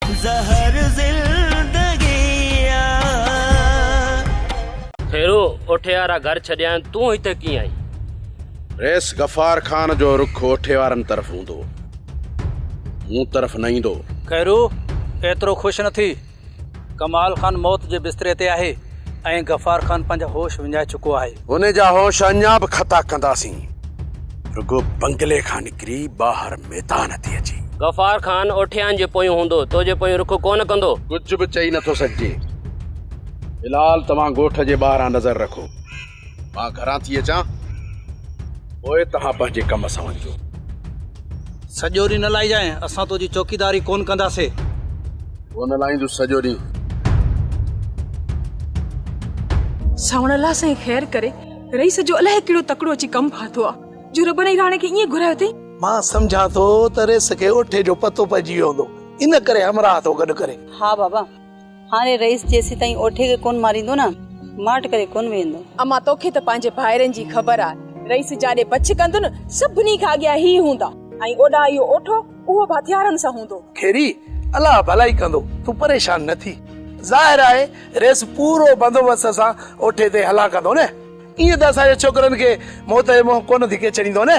زهر زندگيء آ. ڦيرو اوٺيارا گهر ڇڏيائين، تون هتي ڪيئن آئين؟ رئيس غفار خان جو رخ اوٺيارن طرف هوندو، مون طرف نه ايندو. خيرو، ايترو خوش نه ٿي. ڪمال خان موت جي بستري تي آهي ۽ غفار خان پنهنجا هوش وڃائي چڪو آهي. هن جا هوش اڃا به کتا ڪنداسين. رڳو بنگلي کان نڪري ٻاهر ميدان تي اچي. غفار خان اوٺيان جي پويون هوندو، تو جي پويون رخ ڪونه ڪندو. ڪجهه به چئي نٿو سگهجي. بلال توهان ڳوٺ جي ٻاهران نظر رکو. مان گهران ٿي اچان، پوء توهان پنهنجي ڪم سان وڃجو. سڄو ڏينهن نه لائجانء، اسان تو جي چوڪيداري ڪونه ڪنداسين. هو نه لاهيندس سڄو ڏينهن. ساوڻ الله سائين خير ڪري. رئيس جو الاهي ڪهڙو تڪڙو اچي ڪم ڦاٿو آ جو رب نئين راڻي کي ائين گهرايو اٿئي. مان سمجهان ٿو ته رئيس کي اوٺي جو پتو پئجي ويو هوندو ان ڪري همراهه ٿو گڏ ڪري. ها بابا هاڻي رئيس جيسيتائين اوٺي کي ڪونه ماريندو نه ماٺ ڪري ڪونه ويهندو. اما توکي ته پنهنجي ڀائرن جي خبر آ رئيس جاڏي بڇ ڪندن سڀني کان اڳيان هي هوندا ۽ اوڏانهن اهو اوٺو. اهو به هٿيارن سان هوندو. کيري، الله ڀلائي ڪندو، تون پريشان نه ٿي. ظاهر آهي ريس پورو بندوبست سان اوٺي تي هلان ڪندو نه؟ ائين ته اسان جي ڇوڪرن کي موت جي منهن ڪونه ڌڪي ڇڏيندو نه؟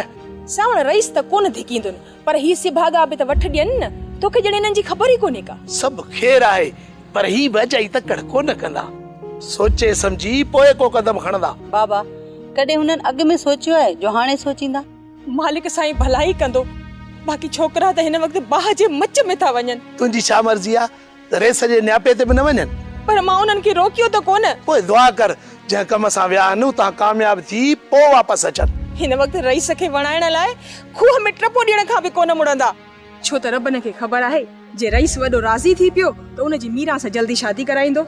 ساوڻ، ريس ته ڪونه ڌڪيندن، پر هي سڀاڳا به ته وٺ ڏين نه؟ توکي ڄڻ انهن جي خبر ئي ڪونهي ڪا. سڀ خير آهي، پر هي به اجائي تڪڙ ڪونه ڪندا. سوچي سمجهي پوء ڪو قدم کڻندا. بابا، ڪڏهن هنن اڳ ۾ سوچيو آهي، جو هاڻي سوچيندا؟ مالڪ سائين ڀلائي ڪندو. باقي ڇوڪرا ته هن وقت باهه جي مچ ۾ ٿا وڃن. تنهنجي ڇا مرضي آ ته ريس جي نياپي تي به نه وڃن. پر مان انهن کي روڪيو ته ڪونه. پوء دعا ڪر جنهن ڪم سان ويا آهن اتان ڪامياب ٿي پوء واپس اچن. هن وقت رئيس کي وڻائڻ لاء کوهه ۾ ٽپو ڏيڻ کان به ڪونه مڙندا. ڇو ته ربن کي خبر آهي جي رئيس وڏو راضي ٿي پيو ته ان جي ميران سان جلدي شادي ڪرائيندو.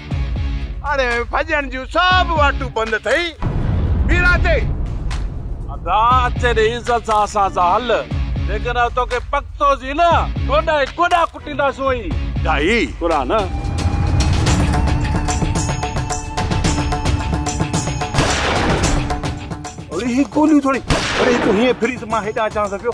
هاڻي ڀڄڻ جون سڀ واٽون بند ٿئي ميرا تي. ادا اچي ڏي عزت سان اسان سان هل جيڪڏهن توکي پڪتو سين نه ٺوڏا ۽ ڪوڏا ڪٽيندا سون ئي. ڊاهي ڪرا نه. اڙي هي گوليون ٿوري اڙي تون هيئن ڦري ته مان هيڏانهن اچانس پيو.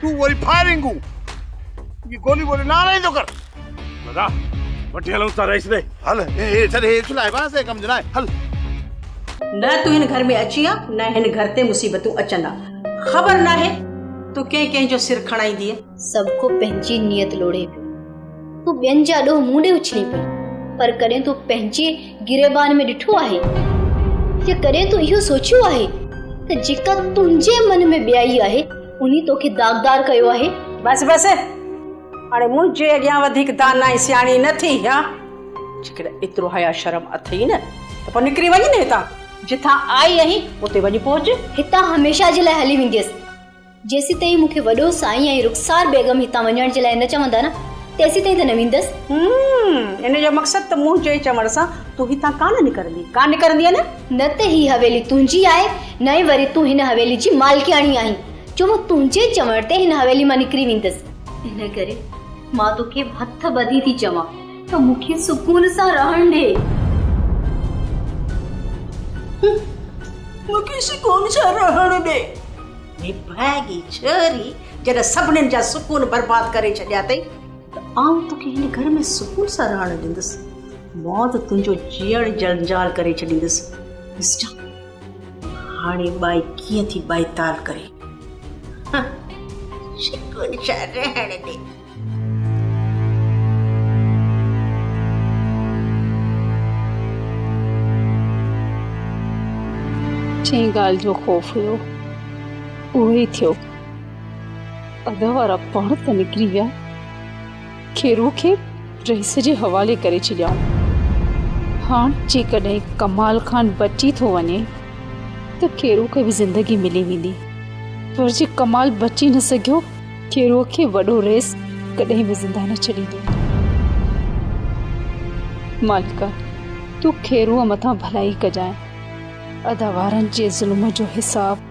تون وري فائرنگون جي گوليون ٻوليون نه هلائيندو ڪر دادا وٺي هلون ٿا رئيس ڏي هل هي ڇڏ هي ڇو لاهي بس هي ڪم جو نه آهي هل نه تون هن گهر ۾ اچين ها نه هن گهر تي مصيبتون اچن ها خبر ناهي تون ڪنهن ڪنهن جو سر کڻائيندينء سڀ ڪو پنهنجي نيت لوڙهي پيو تون ٻين جا ڏوهه مون ڏي اڇلين پئي پر ڪڏهن تون پنهنجي گريبان ۾ ڏٺو آهي يا ڪڏهن تون اهو سوچيو آهي ته جيڪا تنهنجي من ۾ ٻيائي آهي انهي توکي داغدار ڪيو آهي. بس بس هاڻي منهنجي اڳيان وڌيڪ داناء ۽ سياڻي نه ٿي ها. جيڪڏهن ايترو حياء شرم اٿئي نه ته پوء نڪري وڃ نه هتان. جتان آئي آهين اتي وڃي پهچ. هتان هميشه جي لاء هلي وينديس. جيسيتائين مون کي وڏو سائين ۽ رخسار بيگم هتان وڃڻ جي لاء نه چوندا نه تيسيتائين ته نه ويندس. همم ان جو مقصد ته منهنجي چوڻ سان تون هتان ڪانه نڪرندين. ڪانه نڪرندين نه؟ نه ته هي حويلي تنهنجي آهي، نه ئي وري تون هن حويلي جي مالڪياڻي آهين، جو مان تنهنجي چوڻ تي هن حويلي مان نڪري ويندس. ان ڪري مان توکي هٿ ٻڌي ٿي چوان ته مون کي سڪون سان رهڻ ڏي. مون کي سڪون سان رهڻ ڏي. نڀاڳي ڇوري، جڏهن سڀني جا سڪون برباد ڪري ڇڏيا اٿئي. ته آئون توکي هن گهر ۾ سڪون سان رهڻ ڏيندس، موت تنهنجو جيئڻ جنجال ڪري ڇڏيندس. ڏسجان هاڻي ٻائي ڪيئن ٿي ٻائي تال ڪري. سڪون سان رهڻ ڏي. جنهن ڳالهه جو خوف هيو اهو ئي ٿيو. اڳ وارا پاڻ ته نڪري ويا، کيرو کي رئيس جي حوالي ڪري ڇڏيائون. هاڻ جيڪڏهن ڪمال خان بچي ٿو وڃي ته کيرو کي به زندگي ملي ويندي، پر جي ڪمال بچي نه سگهيو، کيرو کي وڏو رئيس ڪڏهن به زنده نه ڇڏيندو. مالڪا تون کيرو مٿان ڀلائي ڪجانء. ادا وارن جي ظلم جو حساب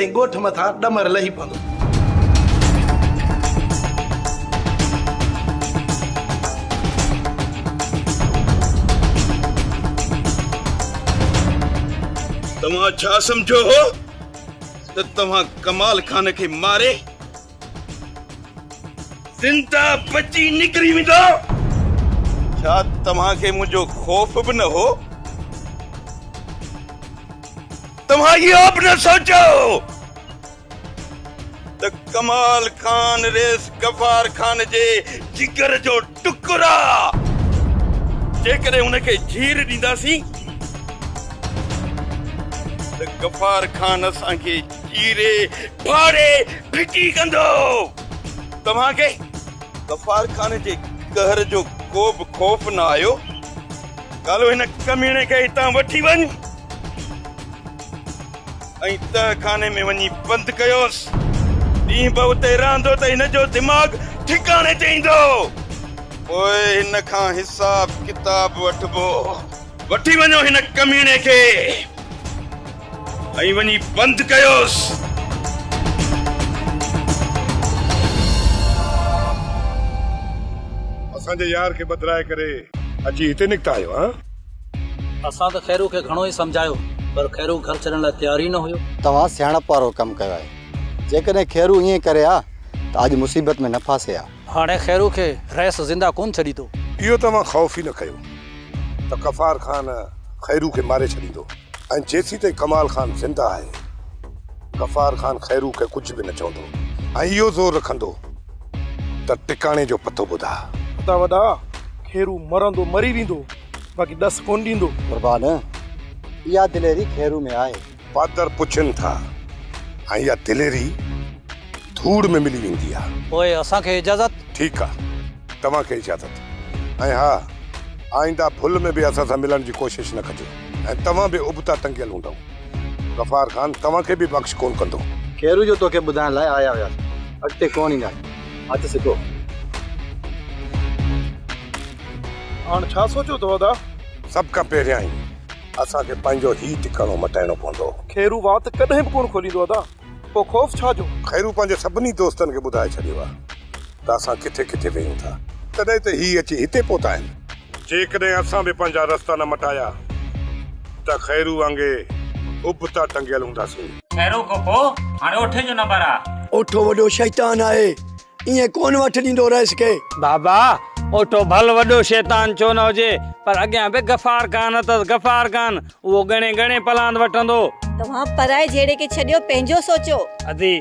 ۽ ڳوٺ مٿان ڏمر لهي پوندو. توهان ڇا سمجهيو هو ته توهان ڪمال خان کي ماري زنده بچي نڪري ويندو. ڇا توهان کي منهنجو خوف به نه هو؟ توهان اهو به نه سوچيو هو ته ڪمال خان ريس غفار خان جي جگر جو ٽڪرا جيڪڏهن هن کي جهير ڏينداسين ته غفار خان اسان کي چيري ڦاڙي ڦٽي ڪندو توهان کي غفار خان جي قهر جو ڪو به خوف نه آيو ڪالهو هن ڪميڻي کي هتان وٺي وڃ ۽ تهه خاني ۾ وڃي بند ڪيوس. ڏينهن به اتي رهندو ته هن جو دماغ ٺڪاڻي تي ايندو. پوء هن کان حساب ڪتاب وٺبو. وٺي وڃو هن ڪميڻي کي ۽ وڃي بند ڪيوس. اسان جي يار کي ٻڌرائي ڪري اچي هتي نڪتا آهيو. اسان ته خيرو کي گهڻو ئي سمجهايو پر خيرو گهر ڇڏڻ لاء تيار ئي نه هيو. توهان سياڻپ وارو ڪم ڪيو آهي. جيڪڏهن خيرو ائين ڪري ها ته اڄ مصيبت ۾ نه ڦاسي ها. هاڻي خيرو کي رئيس زنده ڪونه ڇڏيندو. اهو ته اوهان خوف ئي نه ڪيو ته غفار خان خيرو کي ماري ڇڏيندو ۽ جيسين تائين ڪمال خان زنده آهي غفار خان خيرو کي ڪجهه به نه چوندو ۽ اهو زور رکندو ته ٽڪاڻي جو پتو ٻڌاء. خدا وڏا! کيرو مرندو مري ويندو، باقي ڏس ڪونه ڏيندو. قربان! اها دليري کيرو ۾ آهي. پادر پڇين ٿا ۽ اها دليري ڌوڙ ۾ ملي ويندي آهي. پوء اسان کي اجازت. ٺيڪ آهي، توهان کي اجازت. ۽ ها، آئنده ڀل ۾ به اسان سان ملڻ جي ڪوشش نه ڪجو ۽ توهان به ابتا ٽنگيل هوندؤ. غفار خان توهان کي به بخش ڪونه ڪندو. خيرو جو توکي ٻڌائڻ لاء آيا هياسين اڳتي ڪونه اينداسين هٿ سڌو. هاڻ ڇا سوچيو اٿو ادا؟ سڀ کان پهريائين اسان کي پنهنجو هي ٽڪاڻو مٽائڻو پوندو. خيرو وات ڪڏهن به ڪونه کوليندو ادا. پوء خوف ڇا جو؟ خيرو پنهنجي سڀني دوستن کي ٻڌائي ڇڏيو آهي ته اسان ڪٿي ڪٿي ويهون ٿا. تڏهن ته هي اچي هتي پهتا آهن. جيڪڏهن اسان به پنهنجا رستا نه مٽايا ته خيرو وانگي ابتا ٽنگيل هونداسين. خيرو کوپو هاڻي اوٺي جو نمبر آ. اوٺو وڏو شيطان آهي. ائين ڪونه وٺ ڏيندو رئيس کي. بابا، اوٺو ڀل وڏو شيطان ڇو نه هجي، پر اڳيان به غفار خان اٿس، غفار خان، اهو ڳڻي ڳڻي پلاند وٺندو. توهان پرائي جهيڙي کي ڇڏيو، پنهنجو سوچو. ادي،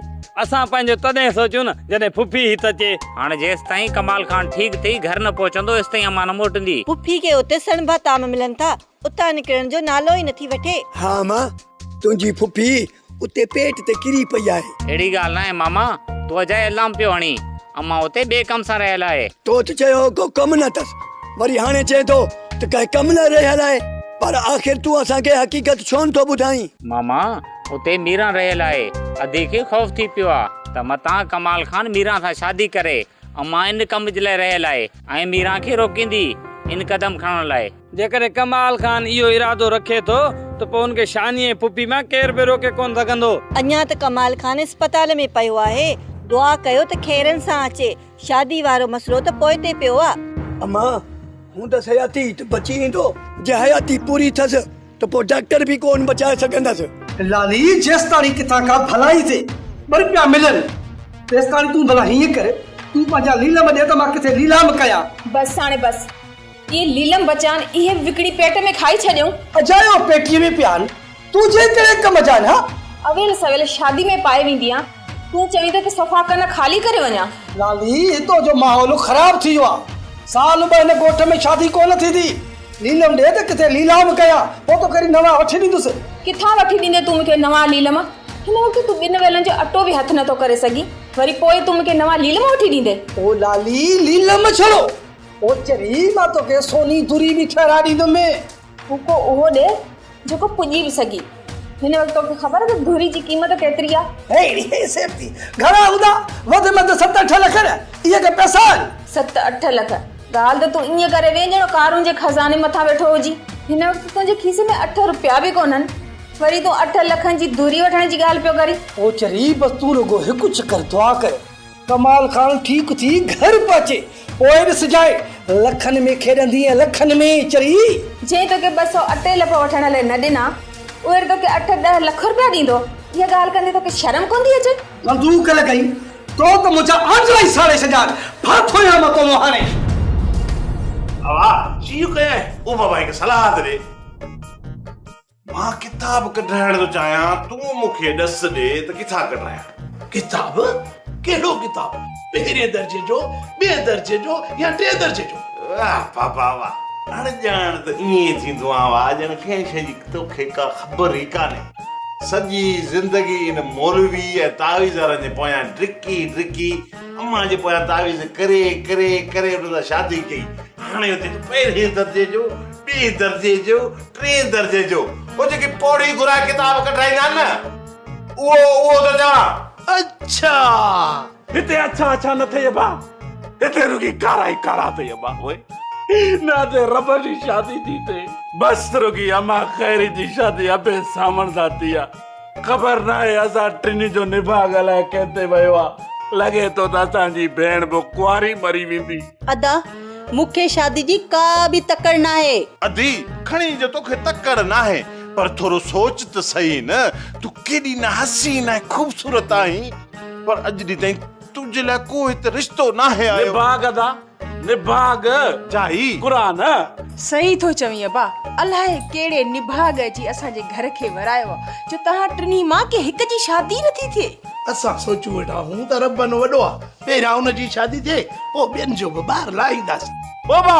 اسان پنهنجو تڏهن سوچون نه، جڏهن ڦڦي هت اچي. هاڻ جيستائين ڪمال خان ٺيڪ ٿي گهر نه پهچندو، ايستائين امان نه موٽندي. ڦڦي کي اتي سڻڀا طعام ملن ٿا. اتان نڪرڻ جو نالو ئي نٿي وٺي. ها امان تنهنجي ڦڦي اتي پيٽ تي ڪري پئي آهي. اهڙي ڳالهه ناهي ماما تو اجائي الام پيو هڻين امان اتي ٻئي ڪم سان رهيل آهي. تو ته چيو هو ڪو ڪم نه ٿس وري هاڻي چئين ٿو ته ڪنهن ڪم لاء رهيل آهي پر آخر تون اسان کي حقيقت ڇو نٿو ٻڌائين. ماما اتي ميران رهيل آهي ادي کي خوف ٿي پيو آ ته متان ڪمال خان ميران سان شادي ڪري امان ان ڪم جي لاء رهيل آهي ۽ ميران کي روڪيندي ان قدم کڻڻ لاء. جيڪڏهن ڪمال خان اهو ارادو رکي ٿو ته پوء ان کي شاني ۽ ڦڦي مان ڪير به روڪي ڪونه سگهندو. اڃا ته ڪمال خان اسپتال ۾ پيو آهي. دعا ڪيو ته خيرن سان اچي. شادي وارو مسئلو ته پوئتي پيو آ. اما، هوندس حياتي ته بچي ايندو. جي حياتي پوري ٿس ته پوء ڊاڪٽر به ڪونه بچائي سگهندس. لالي، جيستاڻي ڪٿان ڪا ڀلائي جي ٻه رپيا ملن، تيستاڻي تون ڀلا هيئن ڪر، تون پنهنجا ليلام ڏي ته مان ڪٿي ليلام ڪيان. بس هاڻي بس. اي ليلم بچان، اهي به وڪڻي پيٽ ۾ کائي ڇڏيون. اجايو پيٽيء ۾ پيان، تون جنهن ڪهڙي ڪم جا نه. اويل سويل شادي ۾ پائي وينديان، تون چوين ٿو ته صفا ڪن خالي ڪري وڃان. لالي، هتو جو ماحول خراب ٿي ويو آ. سال ٻه هن ڳوٺ ۾ شادي ڪونه ٿيندي. ليلم ڏي ته ڪٿي ليلام ڪيان، پوء توکي وري نوان وٺي ڏيندس. ڪٿان وٺي ڏيندين تون مون کي نوان ليلم؟ هن وقت تون ٻن ويلن جو اٽو به هٿ نٿو ڪري سگهين، وري پوء تون مون کي نوان ليلم وٺي ڏيندين؟ او لالي، ليلم ڇڙو. اوچر ئي مان توکي سوني دري به ٺهرائي ڏيندم. هو ڪو اهو ڏي جيڪو پڄي به سگهي. هن وقت توکي خبر ته دري جي قيمت ڪيتري آهي؟ هيء هيء سيبتي گهڻا هوندا؟ وڌ ۾ وڌ ست اٺ لک نه؟ اهي ڪي پئسا آهن؟ ست اٺ لک؟ ڳالهه ته تون ائين ڪري وئين ڄڻ قارون جي خزاني مٿان ويٺو هجين. هن وقت تنهنجي کيسي ۾ اٺ روپيا به ڪونهن. وري تون اٺ لکن جي دري وٺڻ جي ڳالهه پيو ڪرين. اوچر ئي بس تون رڳو هڪ چڪر دعا ڪري. ڪمال خان ٺيڪ ٿي گهر پهچي پوء به سجائي لکن ۾ کيڏندي ۽ لکن ۾ ئي چري. جنهن توکي ٻه سؤ اٽي لپ وٺڻ لئي نه ڏنا، اهي به توکي اٺ ڏهه لک روپيا ڏيندو، اها ڳالهه ڪندي توکي شرم ڪوندي اچي؟ بندوق لڳائي تو ته منهنجا آنڊرا ئي ساڙي ڇڏيان، ڦا ٿويان مان تون هاڻي. ڀاء، جيئن ڪيائين، او ڀاء هڪ صلاح ته ڏي. مان ڪتاب ڪڍرائڻ ٿو چاهيان تون مون کي ڏس ڏي ته ڪٿان ڪڍرايان. ڪتاب؟ ڪهڙو ڪتاب؟ پهرين درجي جو، ٻئي درجي جو يا ٽئين درجي جو؟ واه بابا واه. اڻڄاڻ ته ائين ئي ٿيندو آهيان واه ڄڻ ڪنهن شيء جي توکي ڪا خبر ئي ڪانهي. سڄي زندگي ان مولوي ۽ تعويذ وارن جي پويان ڊڪي ڊڪي امان جي پويان تعويذ ڪري ڪري ڪري انهن سان شادي ڪئي. هاڻي ته پهرين درجي جو، ٻئي درجي جو، ٽئين درجي جو اهو جيڪي پوڙهي گهرائي ڪتاب ڪڍرائيندا آهن نه اهو اهو ته چوان. اڇا هتي اڇا اڇا نه ٿئي ابا هتي رڳي ڪارا ئي ڪارا ٿئي ابا اوء نه هتي ربه جي شادي ٿي ٿئي بس رڳي امان خيري جي شادي ابي سامڻ سان ٿي آ. خبر ناهي اسان ٽنهي جو نڀاڳ الائي ڪنهن تي ويو آ. لڳي ٿو ته اسان جي ڀيڻ به ڪنواري مري ويندي. ادا، مون کي شادي جي ڪا به تڪڙ ناهي. ادي، کڻي جو توکي تڪڙ ناهي پر ٿورو سوچ ته سهي نه تون ڪيڏي نه حسين ۽ خوبصورت آهين پر اڄ ڏينهن تائين تنهنجي لاء ڪو هت رشتو ناهي آيو. نڀاڳ ادا، نڀاڳ جا هي قرآن. صحيح ٿو چوين ابا الائي ڪهڙي نڀاڳ جي اسان جي گهر کي ورايو آ جو توهان ٽنهي مان ڪنهن هڪ جي شادي نه ٿي ٿئي. اسان سوچيون ويٺا هون ته ربن وڏو آ پهريان ان جي شادي ٿئي پوء ٻين جو به ٻار لاهينداسين. بابا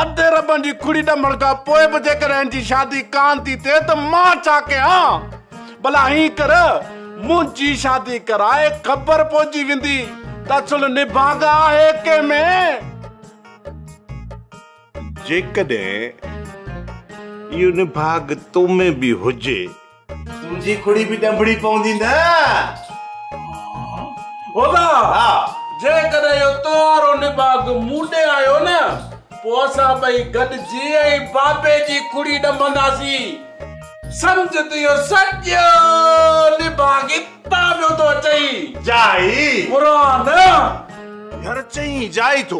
اڌ ربن جي کڙي ڏمڻ کان پوء به جيڪڏهن هن جي شادي ڪانه ٿي ٿئي ته مان ڇا ڪيان. ڀلا ائين ڪر، منهنجي شادي ڪرائي، خبر پوجي ويندي ته صلح نڀاڳا آهي ڪنهن ۾. جيڪڏهن اهو نڀاڳ تو ۾ به هجي. تنهنجي کڙي به ڏنڀڙي پوندي نه. هودا! جيڪڏهن اهو تو وارو نڀاڳ مون ڏي آيو نه، پوء اسان ٻئي گڏجي ۽ بابي جي کڙي ڏنڀنداسين. سمجهه ته اهو سڄو نباغ اتان پيو ٿو اچئي. جائي. پراڻ. گهر چئين جائي ٿو.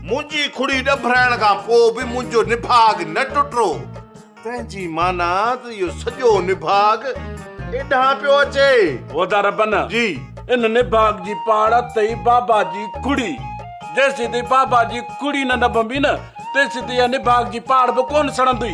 منهنجي کڙي ڏڀرائڻ کان پوء به منهنجو نباغ نه ٽٽو. تنهن جي معنيٰ ته اهو سڄو نباغ ايڏانهن پيو اچي. هودا ربن. جي. ان نباغ جي پاڙ اٿئي بابا جي کڙي. جيسين تائين بابا جي کڙي نه نڀبي نه، تيسين تائين اها نباغ جي پاڙ به ڪونه سڙندي.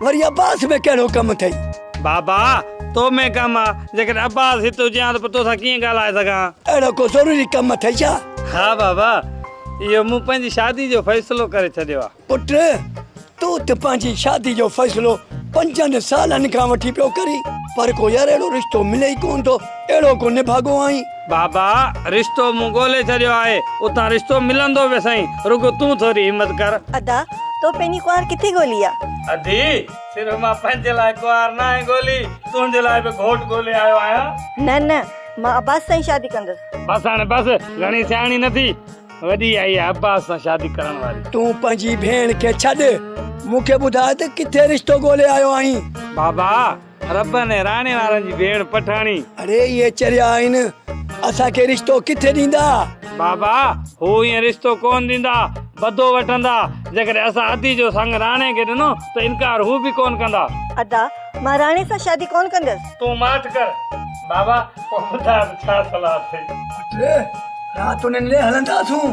وري عباس ۾ ڪهڙو ڪم اٿئي؟ بابا! تو ۾ ڪم آ. جيڪڏهن عباس هت هجي هان ته پوء توسان ڪيئن ڳالهائي سگهان؟ اهڙو ڪو ضروري ڪم اٿئي ڇا؟ ها بابا! اهو مون پنهنجي شادي جو فيصلو ڪري ڇڏيو آ. پٽ! تون ته پنهنجي شادي جو فيصلو پنجن سالن کان وٺي پيو ڪرين. پر ڪو يار اهڙو رشتو ملي ئي ڪونه ٿو. اهڙو ڪو نڀاڳو آهين. بابا رشتو مون ڳولي ڇڏيو آهي. اتان رشتو ملندو به سائين. رڳو تون ٿوري همت ڪر. ادا تو پنهنجي ڪنوار ڪٿي ڳولي آ؟ ادي صرف مان پنهنجي لاء ڪنوار ناهي ڳولي. تنهنجي لاء به گهوٽ ڳولي آيو آهيان. نه نه مان عباس سان ئي شادي ڪندس. بس هاڻي بس گهڻي سياڻي نه ٿي. وڏي آئي آهي عباس سان شادي ڪرڻ واري. تون پنهنجي ڀيڻ کي ڇڏ. مون کي ٻڌاء ته ڪٿي رشتو ڳولي آيو آهين. بابا ربن ۽ راڻي وارن جي ڀيڻ پٺاڻي. اڙي اهي چريا آهن اسان کي رشتو ڪٿي ڏيندا. بابا هو ائين رشتو ڪونه ڏيندا بدو وٺندا جيڪڏهن اسان ادي جو سڱ راڻي کي ڏنو ته انڪار هو به ڪونه ڪندا. ادا مان راڻي سان شادي ڪونه ڪندس. تون ماٺ ڪر بابا پوء ٻڌاء ته ڇا صلاح اٿئي. پٽ رات انهن لي هلنداسون.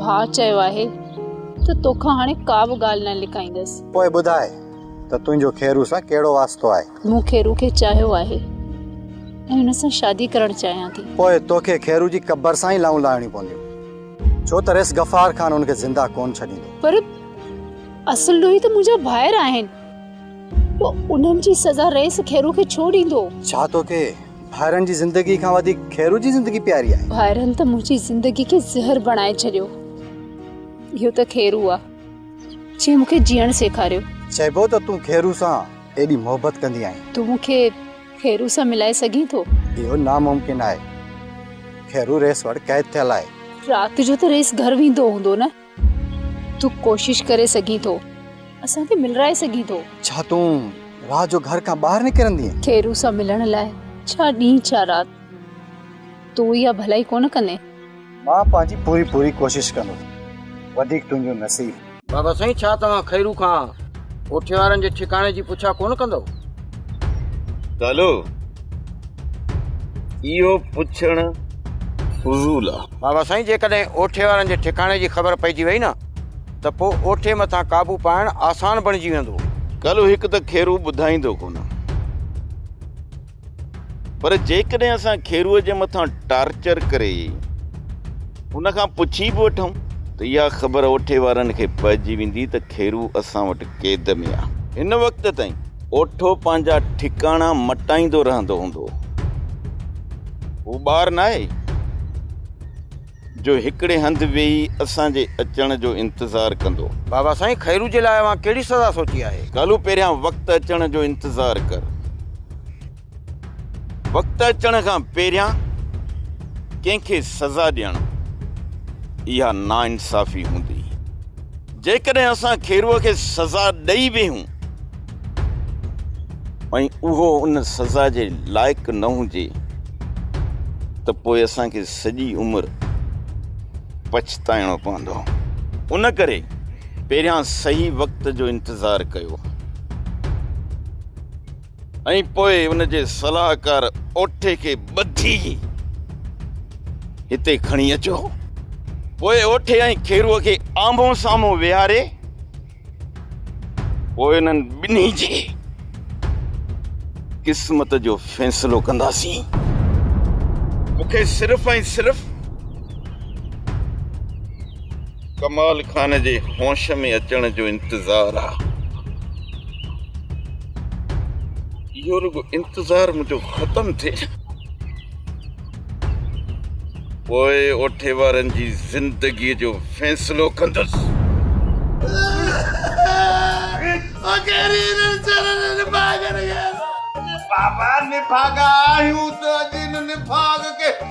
ڀاء چيو آهي ته توکان هاڻي ڪا به ڳالهه نه لڪائيندس. پوء ٻڌاء ته تنهنجو خيرو سان ڪهڙو واسطو آهي؟ مون خيرو کي چاهيو آهي ۽ هن سان شادي ڪرڻ چاهيان ٿي. پوء توکي خيرو جي قبر سان ئي لانئون لاهڻيون پونديون، ڇو ته رئيس غفار خان هن کي زنده ڪونه ڇڏيندو. پر اصل ڏوهي ته منهنجا ڀائر آهن، پوء انهن جي سزا رئيس خيرو کي ڇو ڏيندو؟ ڇا توکي ڀائرن جي زندگي کان وڌيڪ خيرو جي زندگي پياري آهي. ڀائرن ته منهنجي زندگي کي زهر بڻائي ڇڏيو. اهو ته خيرو آ جنهن مون کي جيئڻ سيکاريو. چئبو ته تون خيرو سان ايڏي محبت ڪندي آهين. تون مون کي خيرو سان ملائي سگهين ٿو؟ اهو ناممڪن آهي. خيرو رئيس وٽ قيد ٿيل آهي. رات جو ته رئيس گهر ويندو هوندو نه؟ تون ڪوشش ڪري سگهين ٿو. اسان کي ملرائي سگهين ٿو. ڇا تون رات جو گهر کان ٻاهر نڪرندين؟ کيرو سان ملڻ لاء ڇا ڏينهن ڇا رات. تون اها ڀلائي ڪونه ڪندين. مان پنهنجي پوري پوري ڪوشش ڪندس. وڌيڪ تنهنجو نصيب. بابا سائين ڇا توهان کيرو کان ڪوٺي وارن جي ٺڪاڻي جي پڇا ڪونه ڪندؤ؟ ڪالو اهو پڇڻ فضول آ. بابا سائين جيڪڏهن اوٺي وارن جي ٺڪاڻي جي خبر پئجي وئي نه ته پوء اوٺي مٿان قابو پائڻ آسان بڻجي ويندو. ڳالهه هڪ ته کيرو ٻڌائيندو ڪونه پر جيڪڏهن اسان کيرو جي مٿان ٽارچر ڪري ان کان پڇي به وٺون ته اها خبر اوٺي وارن کي پئجي ويندي ته کيرو اسان وٽ قيد ۾ آهي. هن وقت تائين اوٺو پنهنجا ٺڪاڻا مٽائيندو رهندو هوندو. هو ٻار ناهي جو هڪڙي هنڌ ويهي اسان جي اچڻ جو انتظار ڪندو. بابا سائين خيرو جي لاء اوهان ڪهڙي سزا سوچي آهي؟ ڪالو پهريان وقت اچڻ جو انتظار ڪر. وقت اچڻ کان پهريان ڪنهن کي سزا ڏيڻ اها ناانصافي هوندي. جيڪڏهن اسان کيروء کي سزا ڏئي به هون ۽ اهو ان سزا جي لائق نه هجي ته پوء اسان کي سڄي عمر پڇتائڻو پوندو. ان ڪري پهريان صحيح وقت جو انتظار ڪيو. ۽ پوء ان جي صلاحڪار اوٺي کي ٻڌي هتي کڻي اچو. پوء اوٺي ۽ کيرو کي آمهون سامهون ويهاري پوء انهن ٻنهي جي قسمت جو فيصلو ڪنداسين. مون کي صرف ۽ صرف ڪمال خان جي هوش ۾ اچڻ جو انتظار آ. اهو رڳو انتظار منهنجو ختم ٿئي پوء اوٺي وارن جي زندگي جو فيصلو ڪندس. بابا نڀاڳا آهيون ته اڄ ان نڀاڳ کي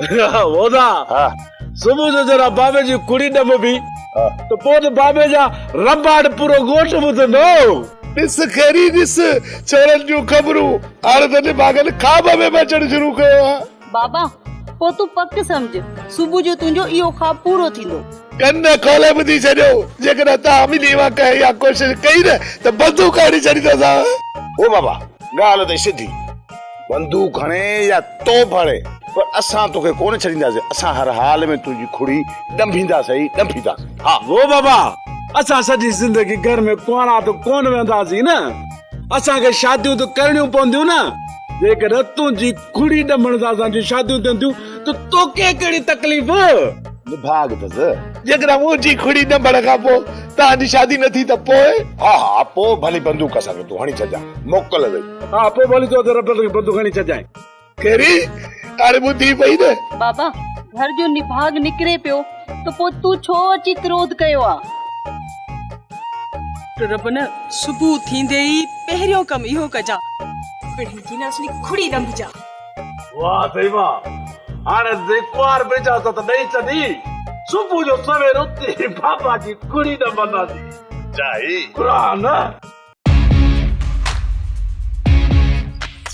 وودا ها صبح جو جرا بابي جي ڪڙي ڏم بي ته پوء ته بابي جا رباٽ پورو ڳوٺ ٻڌندو ڏس خيري ڏس ڇورن جون خبرون هاڻي ته نڀاڳن خواب ۾ به اچڻ شروع ڪيو آهي بابا پوء تون پڪ سمجهه صبح جو تنهنجو اهو خواب پورو ٿيندو ڪن کولي ٻڌي ڇڏيو جيڪڏهن توهان ٻنهي مان ڪنهن اها ڪوشش ڪئي نه ته بندوق هڻي ڇڏيندوسانء هو بابا ڳالهه ته سڌي. بندوق هڻي يا توب هڻي پر اسان توکي ڪونه ڇڏينداسين، اسان هر حال ۾ تنهنجي کڙي ڏنڀينداسين ئي ڏنڀينداسين. ها! هو بابا! اسان سڄي زندگي گهر ۾ ڪنوانا ته ڪونه ويهنداسين نه! اسان کي شاديون ته ڪرڻيون پونديون نه! جيڪڏهن تنهنجي کڙي ڏنڀڻ سان اسان جون شاديون ٿين ٿيون ته توکي ڪهڙي تڪليف؟ نڀاڳ اٿس! جيڪڏهن منهنجي کڙي ڏنڀڻ کان پوء توهان جي شادي نه ٿي ته پوء؟ ها ها! پوء ڀلي بندوق اسان کي تون هڻي ڇڏجان. موڪل اٿئي. ها پوء ڀلي چئو ته رٽل کي بند کڻي ڇڏجانء. ڪهڙي؟ هاڻي ٻڌي پئي نه. بابا، گهر جو نڀاڳ نڪري پيو ته پوء تون ڇو اچي ڪروڌ ڪيو آ؟ ربنا، صبح ٿيندي ئي پهريون ڪم اهو ڪجان. پڙهين ٿي نه اصلي کڙي ڏنڀجان. واه سائين واه، هاڻي ته سائين ڪنوار به اجازت ڏئي ڇڏي. صبح جو سوير اٿي بابا جي کڙي ڏنڀنداسين. جاهي گهران.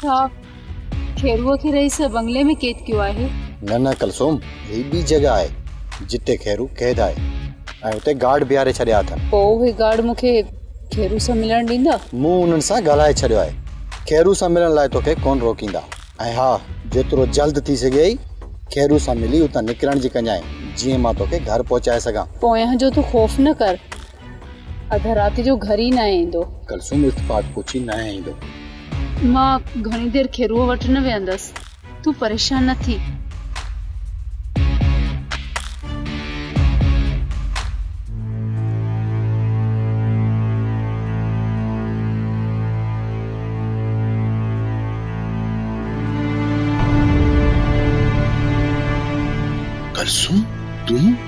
ڇا خيروء کي رئيس بنگلي ۾ قيد ڪيو آهي؟ نه نه ڪلثوم، هي ٻي جڳهه آهي جتي خيرو قيد آهي ۽ اتي گارڊ بيهاري ڇڏيا اٿن. پوء اهي گارڊ مون کي خيرو سان ملڻ ڏيندا؟ مون انهن سان ڳالهائي ڇڏيو آهي. خيرو سان ملڻ لاء توکي ڪونه روڪيندا. ۽ ها، جيترو جلد ٿي سگهيئي خيرو سان ملي اتان نڪرڻ جي ڪجانء، جيئن مان توکي گهر پهچائي سگهان. پويان جو تون خوف نه ڪر. اڌ رات جو گهر ئي ناهي ايندو. ڪلثوم التفات پڇي ناهي ايندو. مان گهڻي دير کيروء وٽ نه ويهندس. تون پريشان نه ٿي. ڪلثوم تون.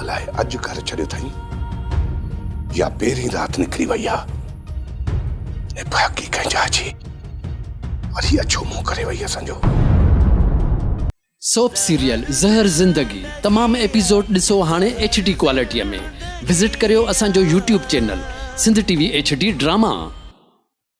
الاء اڄ گهر ڇڏيو اٿئي يا پهرين رات نڪري وئي آ. هي پهاڪي ڪنهن جاء جي وري اڇو منهن ڪري وئي اسان جو. سوپ سيريل زهر زندگي تمام ايپيسوڊ ڏسو هاڻي ايڇ ڊي ڪوالٽيء ۾ وزٽ ڪريو اسان جو YouTube channel Sindh TV HD drama.